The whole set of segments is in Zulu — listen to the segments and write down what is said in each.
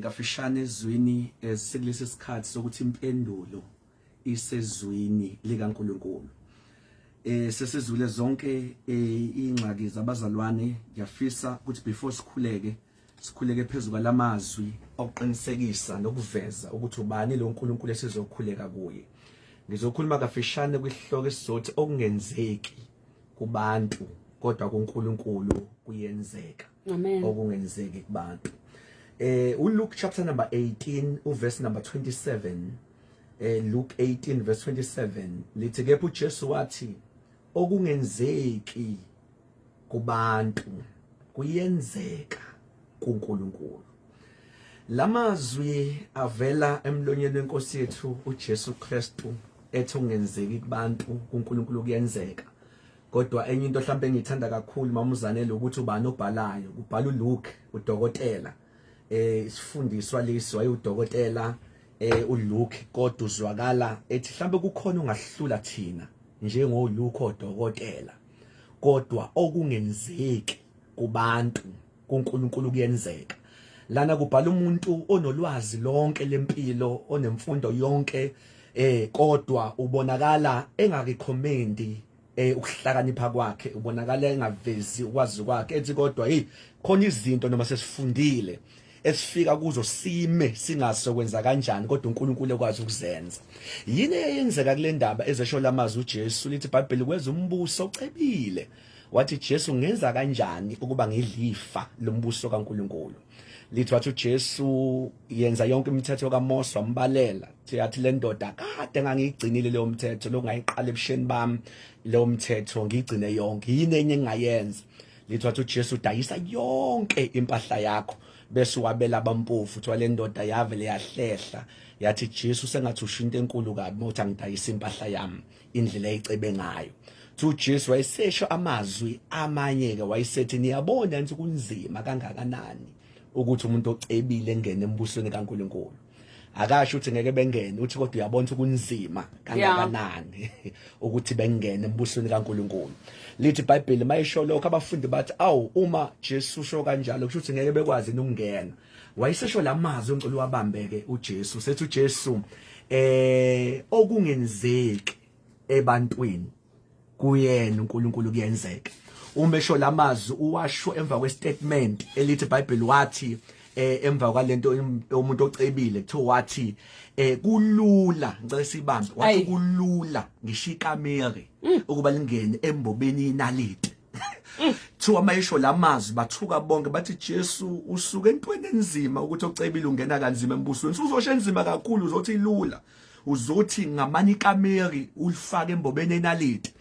Kafishane ezwini eh, sikulesi sikhathi sokuthi impendulo isezwini likaNkulunkulu. Eh sesizwile zonke eh, ingxaki zabazalwane ngiyafisa ukuthi before sikhuleke sikhuleke phezulu kwalamazwi okuqinisekisa nokuveza ukuthi ubani lo nkulunkulu esizokhuleka kuye ngizokhuluma kafishane kwihloko esizothi okungenzeki kubantu kodwa kuNkulunkulu kuyenzeka Amen. Okungenzeki kubantu. Eh uLuke chapter number 18 uverse number 27 eh Luke 18 verse 27 lithi kepha uJesu wathi okungenzeki kubantu kuyenzeka kuNkulunkulu lamazwi avela emlonyeni wenkosi yethu uJesu Kristu ethi ungenzeki kubantu kuNkulunkulu kuyenzeka Kodwa enye into mhlawumbe engiyithanda kakhulu mamuzanele ukuthi ubani obhalayo kubhala uLuke udokotela eh isifundiswa lesi wayewudokotela eh uLuke kodwa uzwakala ethi mhlawumbe kukhona ongahlula thina njengoLuke odokotela kodwa okungenzeki kubantu kuNkulunkulu kuyenzeka lana kubhala umuntu onolwazi lonke lempilo onemfundo yonke eh kodwa ubonakala engakikhomendi eh ukuhlakanipha kwakhe ubonakala engavezi ukwazi kwakhe ethi kodwa hey khona izinto noma sesifundile esifika kuzo sime singaso kwenza kanjani kodwa uNkulunkulu ekwazi ukuzenza yini eyenzeka kule ndaba ezesho lamazwi uJesu lithi iBhayibheli kweza umbuso ocebile wathi Jesu ngenza kanjani ukuba ngidlifa lombuso kaNkuluNkulu lithi wathi uJesu yenza yonke imithetho kaMose wambalela yathi le ndoda kade ngangiyigcinile leyo mthetho lokungayiqala ebusheni bami leyo mthetho ngiyigcine yonke yini enye engingayenza lithi wathi uJesu udayisa yonke impahla yakho bese wabela abampofu kuthiwa le ndoda yavele yahlehla yathi Jesu sengathi usho into enkulu kabi mawuthi angidayisa impahla yami indlela ayicebe ngayo to Jesu wayesesho amazwi amanye ke wayesethi niyabona nje kunzima kangakanani ukuthi umuntu ocebile engene embusweni kaNkuluNkulu akasho ukuthi ngeke bengene uthi kodwa uyabona ukuthi kunzima kangakanani ukuthi bengene embusweni kaNkuluNkulu lithi iBhayibheli mayisho lokho abafundi bathi awu uma Jesu usho kanjalo kusho ukuthi ngeke bekwazi ukungena wayesesho lamazwi engicela uwabambeke uJesu sethi uJesu eh okungenzeki ebantwini kuyena uNkulunkulu kuyenzeka uma esho lamazwi uwasho emva kwestatement elithi iBhayibheli wathi eh emva kwalento umuntu ocebile kuthiwa wathi eh kulula ngicela sibambe wathi kulula ngishikamere mm. ukuba lingene embobeni inalite Thiwa mayisho lamazwi bathuka bonke bathi Jesu usuke entweni enzima ukuthi ocebile ungena kanzima embusweni. Uzosho enzima kakhulu uzothi ilula. Uzothi ngamani ikameri ulifake embobeni enalite.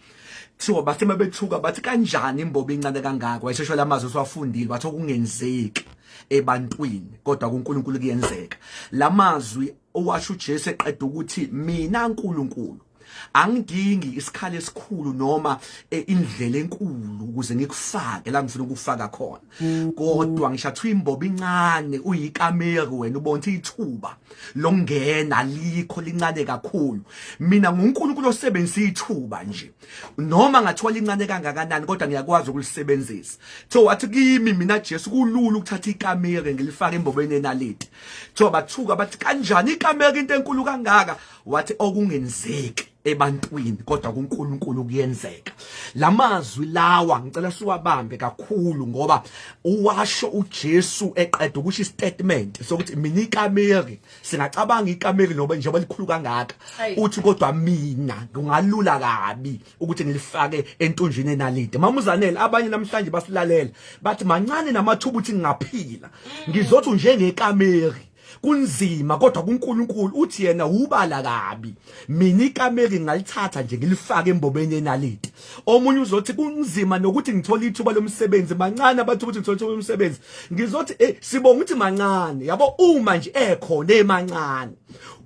Thiwa bathe mabethuka bathi kanjani imbobo incane kangaka wayeshesho lamazwi siwafundile bathe okungenzeki ebantwini kodwa kuNkulunkulu kuyenzeka. Lamazwi owasho uJesu eqeda ukuthi mina uNkulunkulu angidingi isikhala esikhulu noma e, indlela enkulu ukuze ngikufake la ngifuna ukufaka khona mm. kodwa ngishathu imbobo incane uyikamera wena ubonta ithuba longena likho lincane kakhulu mina nguNkulunkulu osebenzisa ithuba nje noma ngathiwa lincane kangakanani kodwa ngiyakwazi ukulisebenzisa so wathi kimi mina Jesu kulula ukuthatha ikamera ngilifake embobeni enalite so bathuka bathi kanjani ikamera into enkulu kangaka wathi okungenzeki ebantwini kodwa kuNkulunkulu kuyenzeka lamazwi lawa ngicela siwabambe kakhulu ngoba uwasho uJesu eqeda ukuthi statement sokuthi mina ikameri singacabanga ikameri noba njengoba likhulu kangaka uthi kodwa mina ngingalula kabi ukuthi ngilifake entunjini enalide mamuzanele abanye namhlanje basilalela bathi mancane namathuba ukuthi ngingaphila mm. ngizothi njengekameri kunzima kodwa kuNkulunkulu uthi yena ubala kabi mina ikameri ngalithatha nje ngilifake embobeni yenaliti omunye uzothi kunzima nokuthi ngithola ithuba lomsebenzi mancane abathi ukuthi ngithola ithuba lomsebenzi ngizothi eh sibonga ukuthi mancane yabo uma nje ekhona emancane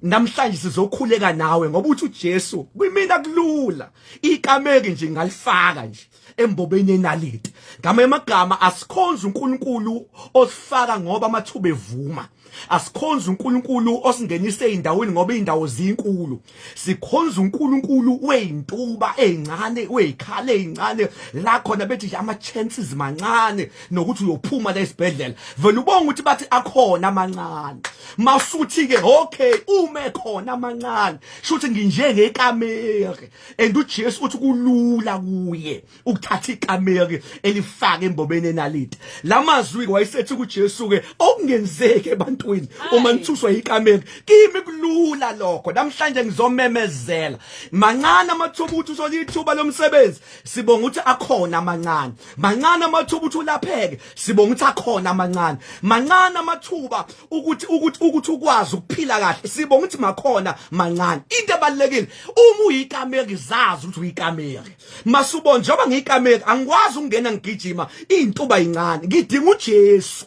namhlanje sizokhuleka nawe ngoba uthi uJesu kwimina kulula ikameri nje ngalifaka nje embobeni yenaliti ngama emagama asikhonza uNkulunkulu osifaka ngoba amathuba evuma asikhonza uNkulunkulu osingenise endaweni ngoba indawo zinkulu sikhonza uNkulunkulu weintuba ezincane wezikhale ezincane la khona bethi ama chances mancane nokuthi uyophuma la esibhedlela vele ubonga ukuthi bathi akhona amancane masuthi ke okay ume khona amancane shuthi nginjengekamere and uJesu uthi kulula kuye ukuthatha ikameri elifaka embobeni enalite lamazwi ke wayesethi kuJesu ke okungenzeki ebantwini uma nithuswa ikameri kimi kulula lokho namhlanje ngizomemezela mancane amathuba ukuthi uthole ithuba lomsebenzi sibonga ukuthi akhona amancane mancane amathuba ukuthi ulapheke sibonga ukuthi akhona amancane mancane amathuba ukuthi ukuthi ukuthi ukwazi ukuphila kahle sibonga ukuthi makhona mancane into ebalekile uma uyikameri zazi ukuthi uyikameri masubo njengoba ngiyikameri angikwazi ukungena ngigijima intuba incane ngidinga uJesu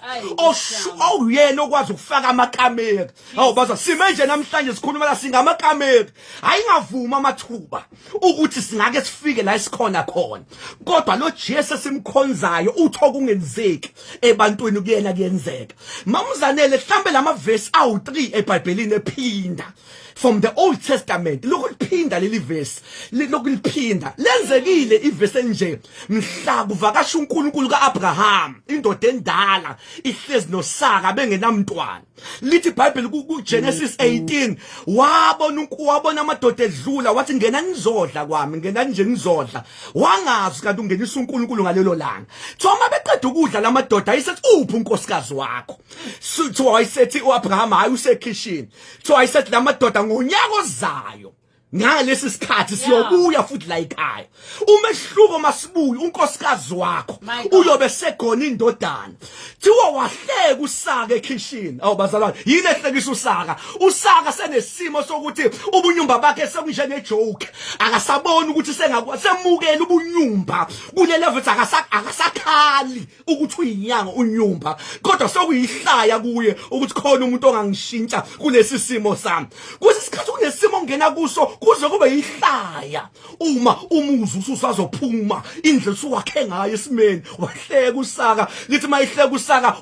oyena okwazi ukufaka amakameri awu baza sime nje namhlanje sikhuluma la singamakameri ayingavuma amathuba ukuthi singake sifike la isikhona khona kodwa lo Jesu simkhonzayo utho kungenzeki ebantwini kuyena kuyenzeka mamuzanele mhlambe lamavesi awu 3 eBhayibhelini ephinda from the old testament lokuliphinda leli verse lokuliphinda lenzekile iverse enje mhla kuvakasha uNkulunkulu kaAbraham indoda endala ihlezi noSara bengenamntwana lithi iBhayibheli kuGenesis 18 wabona uNkulunkulu wabona amadoda edlula wathi ngena nizodla kwami ngena nje nizodla wangazi kanti ungenisa uNkulunkulu ngalelo langa thoma beqeda ukudla lamadoda ayisethi uphi unkosikazi wakho sithi wayisethi uAbraham hayi usekhishini so i said lamadoda ngonyaka ozayo ngalesi sikhathi siyobuya futhi la ekhaya umehluko masibuyi unkosikazi wakho uyobe segona indodana thiwa wahleka usaka ekhishini awu bazalwane yini ehlekisa usaka usaka senesimo sokuthi ubunyumba bakhe sekunjenge joke akasaboni ukuthi sengakwasemukela ubunyumba kule level akasakhali ukuthi uyinyanga unyumba kodwa sokuyihlaya kuye ukuthi khona umuntu ongangishintsha kulesi simo sami kuthi isikhathi kunesimo ngena kuso kuze kube yihlaya uma umuzi ususazophuma indlela usuwakhe ngayo esimeni wahleka usaka ngithi mayihleka usaka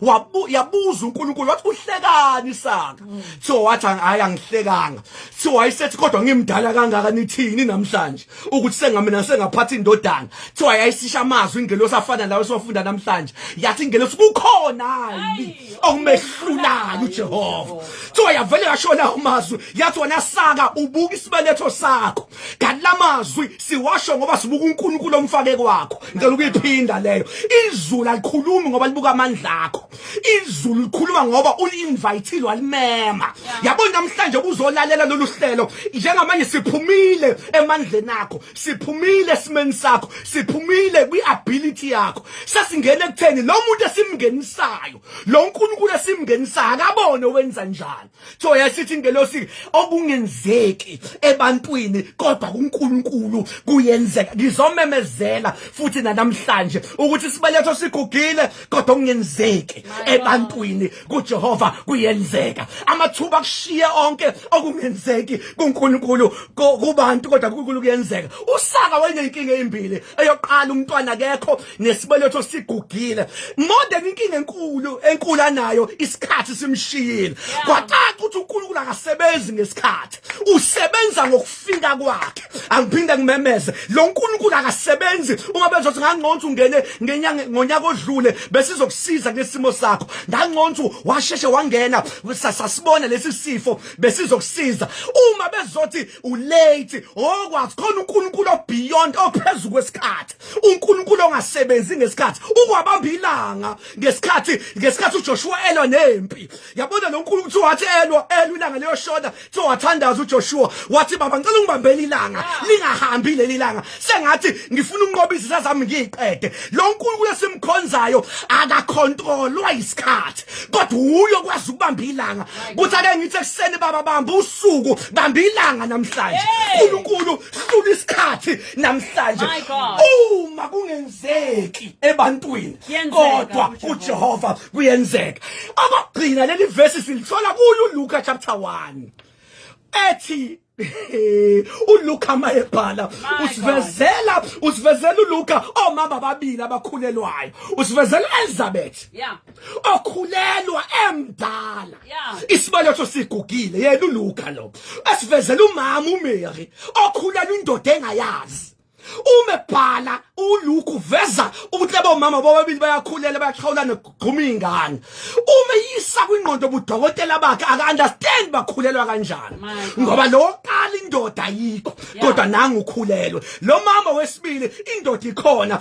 yabuza uNkulunkulu wathi uhlekani saka so wathi hayi angihlekanga so wayesethi kodwa ngimdala kangaka nithini namhlanje ukuthi sengamina sengaphatha indodana kuthiwa yayisisha amazwi ingelosi afana lawo esiwafunda namhlanje yathi ingelosi kukhonani okumehlulayo ujehova kuthiwa yavele yashona amazwi yathi wena saka ubuka isibeletho sakho kanti la mazwi siwasho ngoba sibuka unkulunkulu omfake kwakho ngicela ukuyiphinda leyo izulu alikhulumi ngoba libuka amandla akho izulu likhuluma ngoba ulinvayithile walimema yabo namhlanje kuzolalela lolu hlelo njengamanje siphumile emandleni akho siphumile esimeni sakho siphumile kwi-ability yakho sesingena ekutheni lo muntu esimngenisayo lo nkulunkulu esimngenisayo akabone wenza njani so yasithi ingelosi okungenzeki ebantwini kodwa kuNkulunkulu kuyenzeka ngizomemezela futhi nanamhlanje ukuthi sibeletho sigugile kodwa okungenzeki ebantwini kuJehova kuyenzeka amathuba kushiye onke okungenzeki kuNkulunkulu kubantu kodwa kuNkulunkulu kuyenzeka usaka wenenkinga ezimbili eyoqala umntwana akekho nesibeletho sigugile more than inkinga enkulu enkulu anayo isikhathi simshiyile kwacaca ukuthi uNkulunkulu akasebenzi ngesikhathi usebenza ngokufika kwakhe angiphinde ngimemeze lo nkulunkulu akasebenzi uma bezothi ngangconza ungene ngenyanga ngonyaka odlule besizokusiza ngesimo sakho ngangconza washeshe wangena sasibona lesi sifo besizokusiza uma bezothi ulate okwazi khona unkulunkulu obeyond ophezulu kwesikhathi uNkulunkulu ongasebenzi ngesikhathi ukwabamba ilanga ngesikhathi ngesikhathi uJoshua elwa nempi yabona lo nkulunkulu kuthiwa wathi elwa elwa ilanga leyoshoda kuthiwa wathandaza uJoshua wathi baba ngicela ungibambele ilanga ah. lingahambi leli langa sengathi ngifuna unqoba izitha zami ngiyiqede lo nkulunkulu esimkhonzayo akakhontrolwa isikhathi kodwa uyo kwazi ukubamba ilanga kuthi ake ngithi ekuseni baba bamba usuku bamba ilanga namhlanje uNkulunkulu hlula isikhathi namhlanje My God. uma kungenzeki ebantwini Kuyenzeka, kodwa kuJehova. kujehova kuyenzeka abagcina leli vesi silithola kuyo uluka chapter 1 ethi uluka uma ebhala My usivezela usivezela uluka omama ababili abakhulelwayo usivezela u-elizabeth Yeah. okhulelwa emdala isibaletho sigugile yena uLuka lo asivezela umama uMary okhulelwa indoda engayazi uma ebhala uLuke uveza ukuthi labo mama bobabili bayakhulela bayaxhawulana kugquma ingane uma yisa kwingqondo budokotela bakhe aka understand bakhulelwa kanjani ngoba lo qala indoda ayikho kodwa nangu ukhulelwe lo mama wesibili indoda ikhona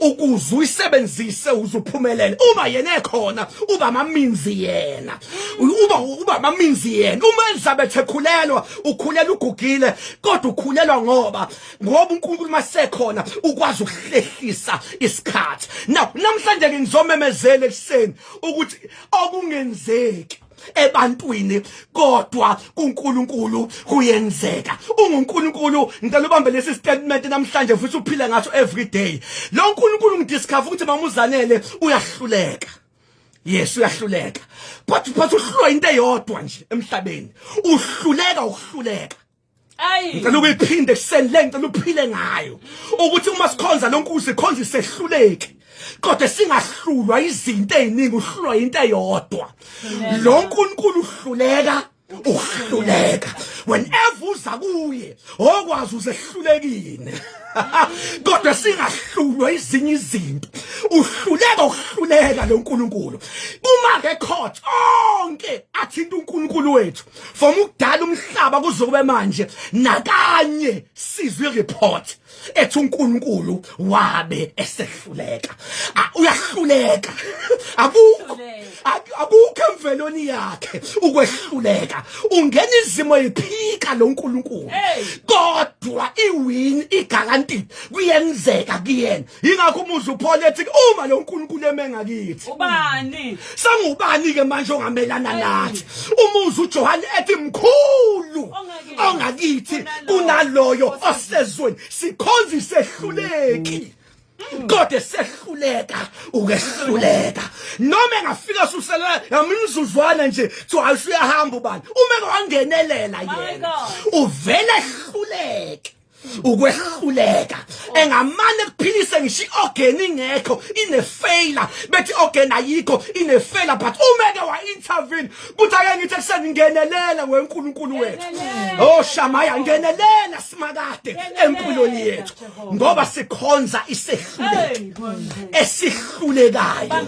ukuze uyisebenzise uzuphumelele uma yena ekhona uba amaminzi yena uba uba amaminzi yena uma Elizabeth ekhulelwa ukhulela ugugile kodwa ukhulelwa ngoba ngoba uNkulunkulu masekhona ukwazi ukuhlehlisa isikhathi now namhlanje ke ngizomemezela ekuseni ukuthi okungenzeki ebantwini kodwa kuNkulunkulu kuyenzeka unguNkulunkulu ngicela ubambe lesi statement namhlanje futhi uphile ngaso every day lo uNkulunkulu ngidiscover ukuthi mamuzanele uyahluleka yes uyahluleka but but uhlulwa into eyodwa nje emhlabeni uhluleka ukuhluleka ngicela ukuyiphinde ekuseni le ngicela uphile ngayo ukuthi uma sikhonza lo nkuzi khonza isehluleki kodwa singahlulwa izinto eziningi uhlulwa into eyodwa lo nkulunkulu uhluleka uhluleka whenever uza kuye okwazi uzehlulekile kodwa singahlulwa izinye izinto uhluleka ukuhluleka lo nkulunkulu uma ngekhotha onke athinta unkulunkulu wethu from ukudala umhlaba kuzokube manje nakanye sizwe report ethi uNkulunkulu wabe esehluleka uyahluleka akukho akukho emvelweni yakhe ukwehluleka ungena izimo ephika lo nkulunkulu kodwa iwin igaranti kuyenzeka kuyena yingakho umuzi uphole ethi uma lo nkulunkulu eme ngakithi ubani sangubani-ke manje ongamelana nathi umuzi ujohane ethi mkhulu ongakithi kunaloyo osezweni sikhonza isehluleki mm. kodwa sehluleka ukehluleka noma engafika suselela yamnizuzwana nje so ayisuyahamba ubani uma ke wangenelela yena uvele ehluleke ukwehluleka engamane kuphilise ngisho i-organ ingekho inefeyila bethi i-organ ayikho inefeyila but umeke wa-intervene kuthi ake ngithi ekuseni ngenelela wenkulunkulu wethu o oh, shamaya ngenelela simakade empilweni yethu ngoba sikhonza isehluleki esihlulekayo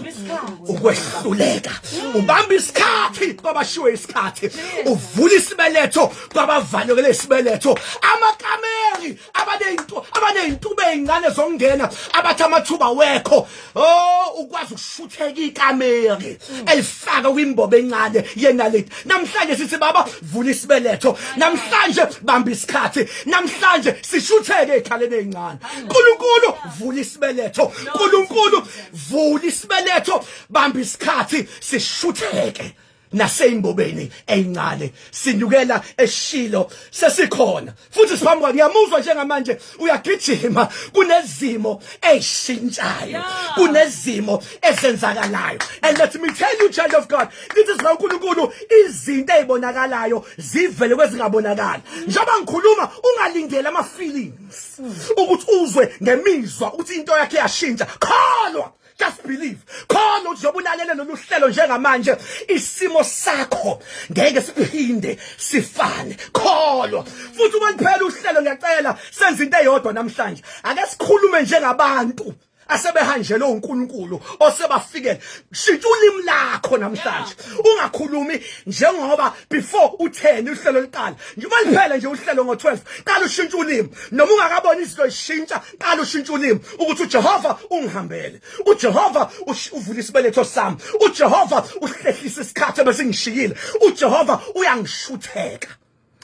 ukwehluleka ubamba isikhathi kwabashiwe isikhathi uvula isibeletho kwabavalekele isibeletho amakameri abanezinto abanezintuba ezincane zokungena abathi amathuba wekho oh ukwazi ukushutheka ikameri elifaka kwimbobo encane yenaleti namhlanje sithi baba vula isibeletho namhlanje bamba isikhathi namhlanje sishutheke ekhaleni ezincane uNkulunkulu vula isibeletho uNkulunkulu vula isibeletho bamba isikhathi sishutheke naseymbobeni eyincane sinyukela eshilo sesikhona futhi siphambi kwakhe ngiyamuzwa njengamanje uyagijima kunezimo ezishintshayo kunezimo ezenzakalayo and let me tell you child of god lithi sina uNkulunkulu izinto ezibonakalayo zivele kwezingabonakala njengoba ngikhuluma ungalindele ama feelings ukuthi uzwe ngemizwa ukuthi into yakhe yashintsha kholwa just believe khona uthi zobulalele lolu hlelo njengamanje isimo sakho ngeke siphinde sifane kholwa futhi uma liphela uhlelo ngiyacela senze into eyodwa namhlanje ake sikhulume njengabantu asebehanjelwe uNkulunkulu osebafikele shintsha ulimi lakho namhlanje ungakhulumi njengoba before utheni uhlelo liqala njengoba liphele nje uhlelo ngo12 qala ushintsha ulimi noma ungakaboni izinto zishintsha qala ushintsha ulimi ukuthi uJehova ungihambele uJehova uvula isibeletho sami uJehova uhlehlisa isikhathi ebesingishiyile uJehova uyangishutheka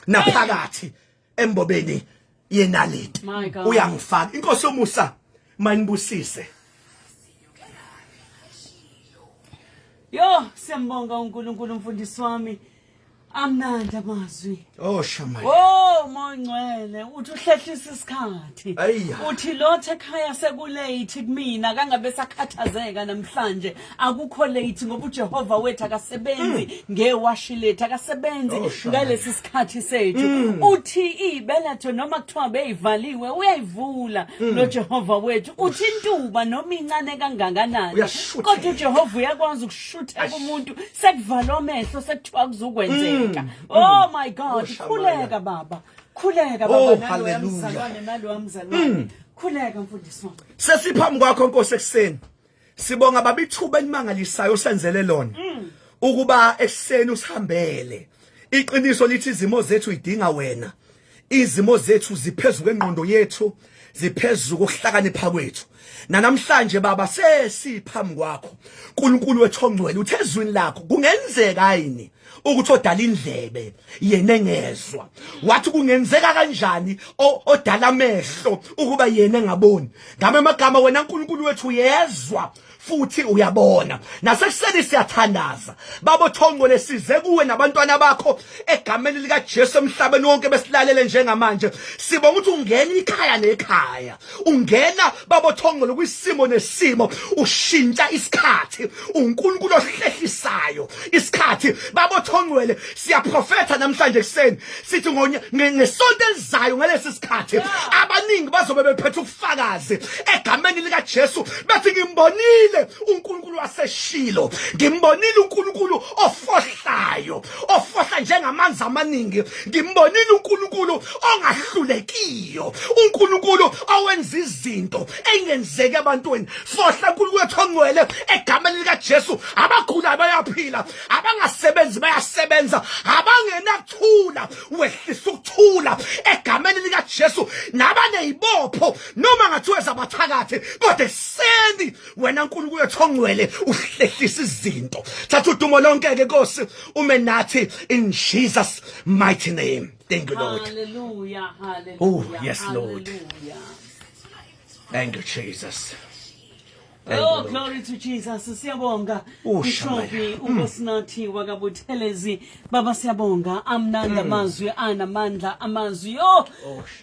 naphakathi embobeni yenaliti uyangifaka inkosi yomusa manibusise Yo, siyambonga uNkulunkulu mfundisi wami. amnandi amazwi oh shama oh mongcwele uthi uhlehlisa isikhathi uthi lothe ekhaya sekulate kumina kangabe sakhathazeka namhlanje akukho late ngoba uJehova wethu akasebenzi hmm. ngewashi lethu akasebenzi oh, ngalesi sikhathi sethu hmm. uthi ibeletho noma kuthiwa beyivaliwe uyayivula hmm. lo Jehova wethu uthi intuba noma incane kangakanani kodwa uJehova uyakwazi ukusho shutheka umuntu sekuvalwa amehlo sekuthiwa kuzokwenzeka mm. oh my god oh, khuleka baba khuleka baba oh, naloya mzalwane naloya mzalwane mm. khuleka mfundisi wami sesiphambi kwakho nkosi ekuseni sibonga baba ithuba elimangalisayo osenzele lona mm. ukuba ekuseni usihambele iqiniso lithi izimo zethu idinga wena Izimo zethu ziphezu kwengqondo yethu, ziphezu kokuhlakanipha kwethu. Nanamhlanje baba sesiphambi kwakho. uNkulunkulu wethu ongcwele uthe ezwini lakho kungenzeka yini ukuthi odala indlebe yena engezwa wathi kungenzeka kanjani odala amehlo ukuba yena engaboni ngame amagama wena uNkulunkulu wethu uyezwa futhi uyabona nasekuseni siyathandaza babo thongcwele size kuwe nabantwana bakho egameni lika Jesu emhlabeni wonke besilalele njengamanje sibonga ukuthi ungena ikhaya nekhaya ungena babo thongcwele kwisimo nesimo ushintsha isikhathi uNkulunkulu ohlehlisayo isikhathi babo thongcwele siyaprofetha namhlanje kuseni sithi ngesonto elizayo ngalesi sikhathi abaningi bazobe bephethe ubufakazi egameni likaJesu bethi ngimbonile uNkulunkulu waseshilo ngimbonile uNkulunkulu ofohlayo ofohla njengamanzi amaningi ngimbonile uNkulunkulu ongahlulekiyo uNkulunkulu owenza izinto engenzeki ebantwini fohla uNkulunkulu ethongwele egameni likaJesu abagulayo bayaphila abangasebenzi bayasebenza abangena ukuthula wehlisa ukuthula egameni likaJesu nabanezibopho noma ngathiwe zabathakathi kodwa eseni wena uNkulunkulu ethongwele uhlehlisa izinto thatha udumo lonke ke Nkosi ume nathi in Jesus mighty name thank you Lord hallelujah hallelujah oh yes Lord thank you Jesus Thank you, Oh, Lord. glory to Jesus. Siyabonga. Oh, Mshophi uNkosinathi wakaButhelezi. Baba siyabonga. Amnanda amazwi anamandla amazwi. Yo.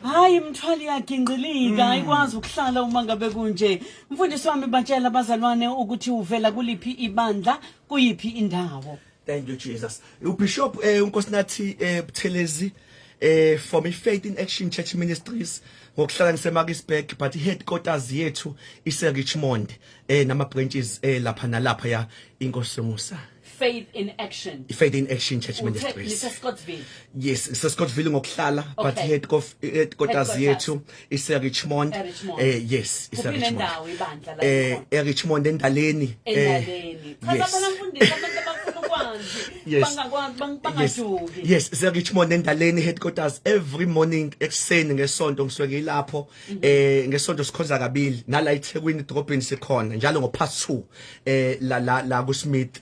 Hayi imthwali yakhe ingqilika ayikwazi ukuhlala uma ngabe kunje. Mfundisi wami batshela abazalwane ukuthi uvela kuliphi ibandla, kuyiphi indawo. Thank you Jesus. UBishop eh uNkosinathi eh Buthelezi eh from iFaith in Action Church Ministries ngokuhlala ngiseMarkisburg but iheadquarters yethu ise Richmond eh nama branches eh lapha nalapha ya inkosi Musa. Faith in Action. Faith in Action Church Ministries. Yes, iseScottsville ngokuhlala okay. but headquarters yethu ise Richmond eh yes ise Richmond eh e Richmond endaleni eh yes yes bangajuki yes ise Richmond endaleni headquarters every morning ekseni ngesonto ngisuke ngilapho mhm. eh ngesonto sikhonza kabili nala eThekwini drop in sikhona njalo ngo past 2 eh la la la ku Smith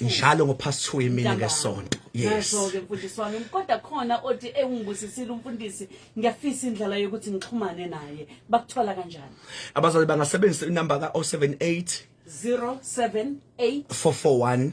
njalo ngo past 2 imini ngesonto yes ke mfundisi wami kodwa khona othi engibusisile eh, umfundisi ngiyafisa indlela yokuthi ngixhumane naye bakuthola kanjani abazali bangasebenzisa inamba ka 078 078 441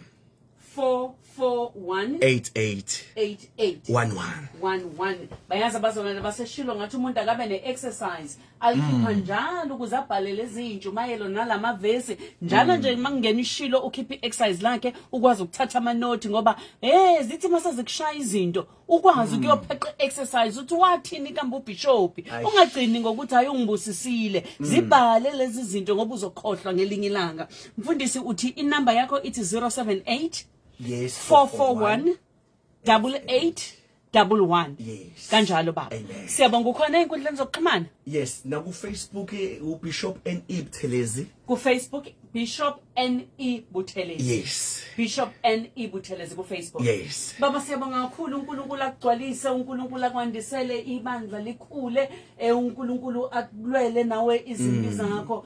441 bayazi abazalwane baseshilo ngathi umuntu akabe ne-exercise alikhipha njalo ukuze abhalele ezintshumayelo nalama vesi njalo nje uma kungena ishilo ukhipha i-exercise lakhe ukwazi ukuthatha amanothi ngoba eh zithi mase zikushaya izinto ukwazi ukuyopheqa i-exercise uthi wathini kambe ubhishophi Aish. ungagcini ngokuthi hayi ungibusisile zibhale lezi zinto ngoba uzokhohlwa ngelinye ilanga mfundisi uthi inamba yakho ithi 078 Yes. 441 double eight double one yes. kanjalo baba siyabonga ukhona ey'nkundleni zokuxhumana yes nakufacebook eh, ubishop ne buthelezi kufacebook bishop ne buthelezi yes bishop ne buthelezi kufacebook yes baba siyabonga kakhulu unkulunkulu akugcwalise unkulunkulu akwandisele ibandla likhule um unkulunkulu akulwele nawe izimbiza mm. ngakho